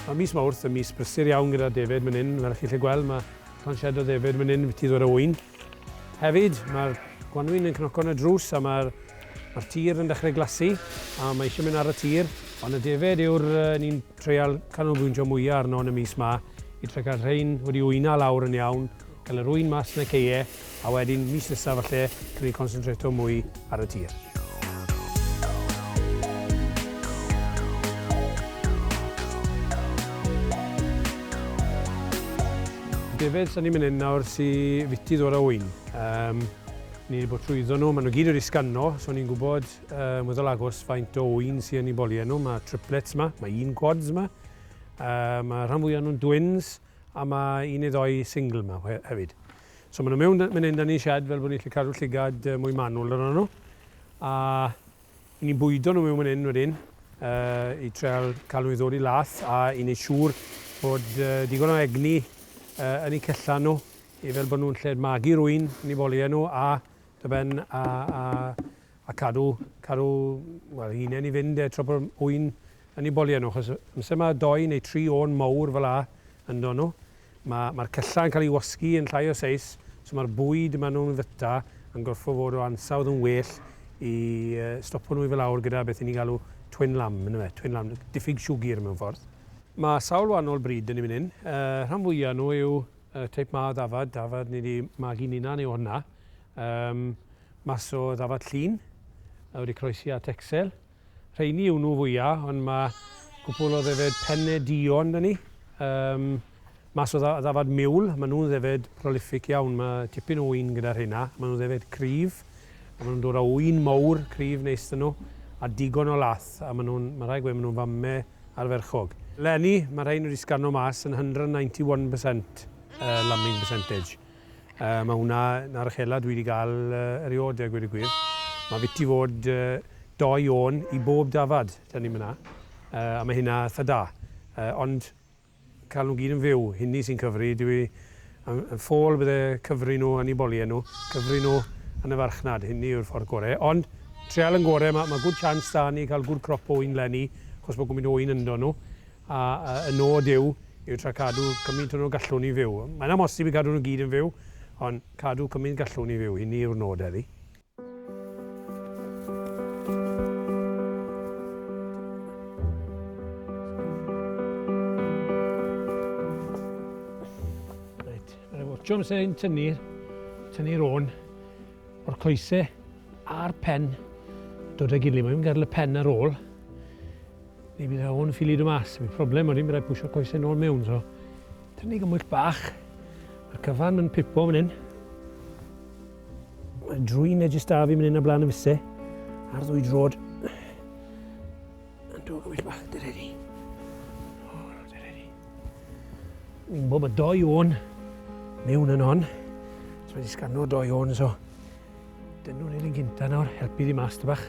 Mae mis Mawrth yn mis brysur iawn gyda defaid man hyn, fel chi'n gallu gweld mae llon shed o ddefaid man hyn byti ddod o ŵyn. Hefyd, mae'r gwanwyn yn cnoco yn y drws a mae'r ma tir yn dechrau glasu a mae eisiau mynd ar y tir. Ond y defaid yw'r un Treial canolbwyntio mwya arno yn y mis ma i trio cael rhein wedi wyna lawr yn iawn, cael yr ŵyn mas yn y caeau a wedyn mis nesa falle can ni consyntreto mwy ar y tir. Defaid sda ni man 'yn nawr sy fiti ddod â ŵyn. Yym ni 'di bod trwyddo nhw, ma' nhw gyd wedi sgano so ni'n gwbod Ymwthol agos faint o ŵyn sy yn ei boli e. Nawr mae triplets yma, mae un quads yma, uh, mae rhan fwyaf nhw'n dwins, a mae un neu ddoi single yma hefyd. So maen nhw mewn mynd hyn da ni'n siad fel bod ni'n gallu cadw llygad mwy manwl yn nhw. A i ni'n bwydo nhw mewn mynd hyn wedyn, uh, i treol cael nhw i ddod i lath a i wneud siŵr bod uh, digon o egni uh, yn eu cellan nhw i fel bod nhw'n lled magu rwy'n yn ei boli nhw a dy ben a, a, a cadw, cadw well, hunain i fynd e, tra bod wy'n yn ei bolio nhw, achos amser mae doi neu tri o'n mawr fel a yn do nhw, mae'r ma cyllau yn cael ei wasgu yn llai o seis, so mae'r bwyd maen nhw'n fyta yn gorfod fod o ansawdd yn well i uh, stopo nhw i fel awr gyda beth ni'n galw twin lamb, yn yma, twin lamb, diffyg siwgr mewn ffordd. Mae sawl wahanol bryd yn ei mynd hyn. Uh, rhan fwyaf nhw yw uh, teip ma o ddafad, dafad ni wedi magu ninan yw hwnna. Ym mas o ddafad llun a wedi croesi at Excel. Rheini yw nhw fwya, ond mae cwpwl o ddefaid penne duon da ni. Ym mas o ddafad miwl, maen nhw'n ddefaid prolific iawn. Mae tipyn o ŵyn gyda rheina. Maen nhw'n ddefaid cryf, a maen nhw'n dod â ŵyn mowr, cryf neis da nhw, a digon o lath, a maen nhw'n, mae rhaid gweud, maen nhw'n fame arferchog. Leni, mae rhein wedi sgano mas yn 191 percent lambing percentage. Yy mae hwnna na'r uchela dwi 'di ga'l eriod a gweud y gwir. Mae fiti fod doi ôn i bob dafad 'da ni myna. Yy a mae hynna itha da. Yy ond cael nhw gyd yn fyw, hynny sy'n cyfri. Dw i yn yn ffôl bydde cyfri nhw yn 'u bolie nhw, cyfri nhw yn y farchnad, hynny yw'r ffordd gore. Ond treial yn gore, ma' ma' good chance 'da ni cael good crop ôyn 'leni, achos bod gwmyn ôyn ynddo nhw. A y nod yw, yw tra cadw cymint o nhw gallwn ni fyw. Mae'n amhosib i gadw nhw gyd yn fyw, ond cadw cymint gallwn ni fyw, hynny yw'r nod heddi. Siom sy'n ein tynnu'r tynnu rôn o'r coesau a'r pen dod â gilydd. Mae'n gael y pen ar ôl. Neu bydd o'n ffili dod mas. Mae problem wedyn byddai pwysio coesau nôl mewn. So, tynnu gymwyll bach. Mae'r cyfan yn pipo fan hyn. Mae drwy'n edrych da fi mynd hyn a blaen y fuse. Ar ddwy drod. Yn dod gymwyll bach, dyr eddi. O, dyr eddi. Mi'n bod bod doi o'n mewn yn hon. So, wedi sgano doi o'n, so. Dynnu'n hyn yn gynta nawr, helpu ddi mas, dy bach.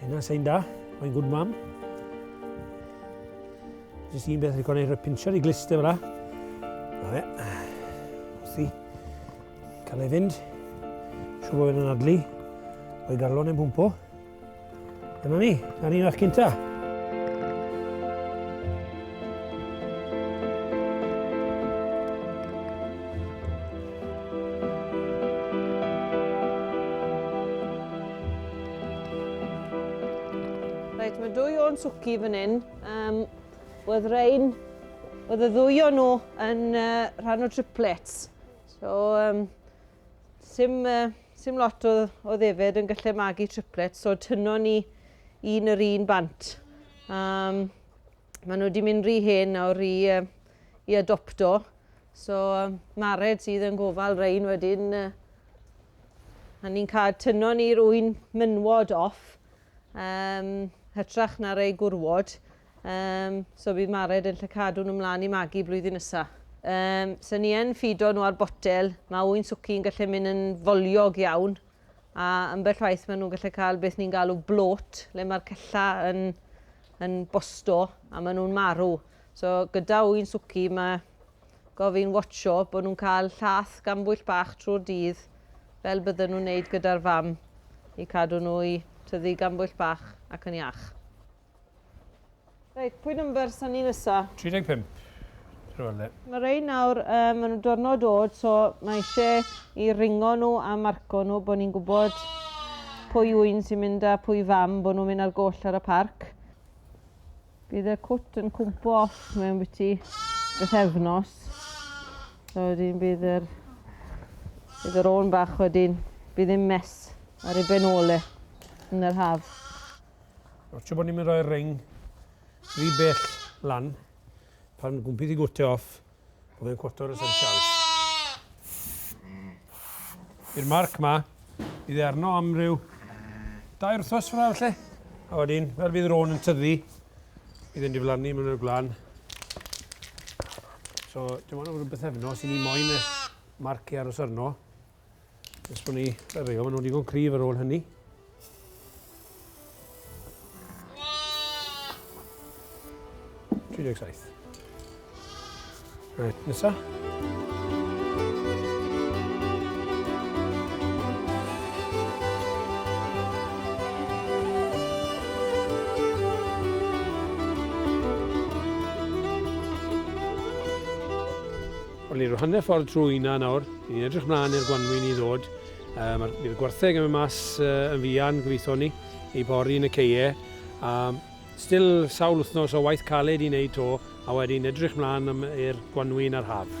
Hynna sy'n da, mae'n good mam. Jyst un beth rwy'n rhoi pincher i glister fyna. Na fe. Wrthi. Cael ei fynd. Siw bod yn adlu. O'i galon yn pwmpo. Dyna ni. Dyna ni'n eich cynta. Reit, mae dwy o'n swci fan hyn. Um, oedd rein, oedd y ddwy o'n nhw yn uh, rhan o triplets. So, um, sim, uh, sim lot o, o ddefyd yn gallu magu triplets, so tyno ni un yr un bant. Um, Maen nhw wedi mynd rhy hen nawr i, uh, i adopto. So, um, Mared sydd yn gofal rhain wedyn, uh, a ni'n cael tyno ni'r wy'n mynwod off, um, hytrach na rei gwrwod. Um, so bydd Mared yn lle cadw nhw mlaen i magu blwyddyn nesaf. Um, so ni yn ffido nhw ar botel, mae wy'n swci'n gallu mynd yn foliog iawn, a ambell waith maen nhw'n gallu cael beth ni'n galw blot, le mae'r cella yn, yn bosto a maen nhw'n marw. So gyda wy'n swci mae gofyn watcho bod nhw'n cael llath gan bwyll bach trwy'r dydd fel bydden nhw'n wneud gyda'r fam i cadw nhw i tyfu gan bwyll bach ac yn iach. Reit, pwy number sa ni nesa? 35. Rhywle le. Mae rei nawr, um, maen nhw'n diwrnod oed, so mae eisiau i ringo nhw a marco nhw bod ni'n gwybod pwy yw un sy'n mynd a pwy fam bod nhw'n mynd ar goll ar y parc. Bydd y cwt yn cwmpo off mewn byti beth efnos. So wedyn bydd yr, bydd yr ôn bach wedyn, bydd yn mes ar ei benole yn yr haf. Mae'n siŵr bod ni'n mynd rhoi'r ring rhy bell lan. Pan gwmpi di gwte off, bod fe'n cwota o'r essentials. I'r marc ma, bydd e arno am ryw dau wrthos fyrra felly. A wedyn, fel fydd rôn yn tyddu, bydd e'n diflannu mewn i'r gwlan. So, dim ond rhywbeth efno sy'n ni moyn y marc i aros arno. Nes bod ni, fe reo, maen nhw'n digon cryf ar ôl hynny. Right, nesa. Wel, ni'n rhyw hanner ffordd trwy hynna nawr. Ni'n edrych mlaen i'r gwanwyn i ddod. Uh, Mae'r bydd y gwartheg yn mynd mas uh, yn fuan, gobeithio ni, i bori yn y ceie. A still sawl wythnos o waith caled i wneud to, a wedyn edrych mlaen i'r gwanwyn a'r haf.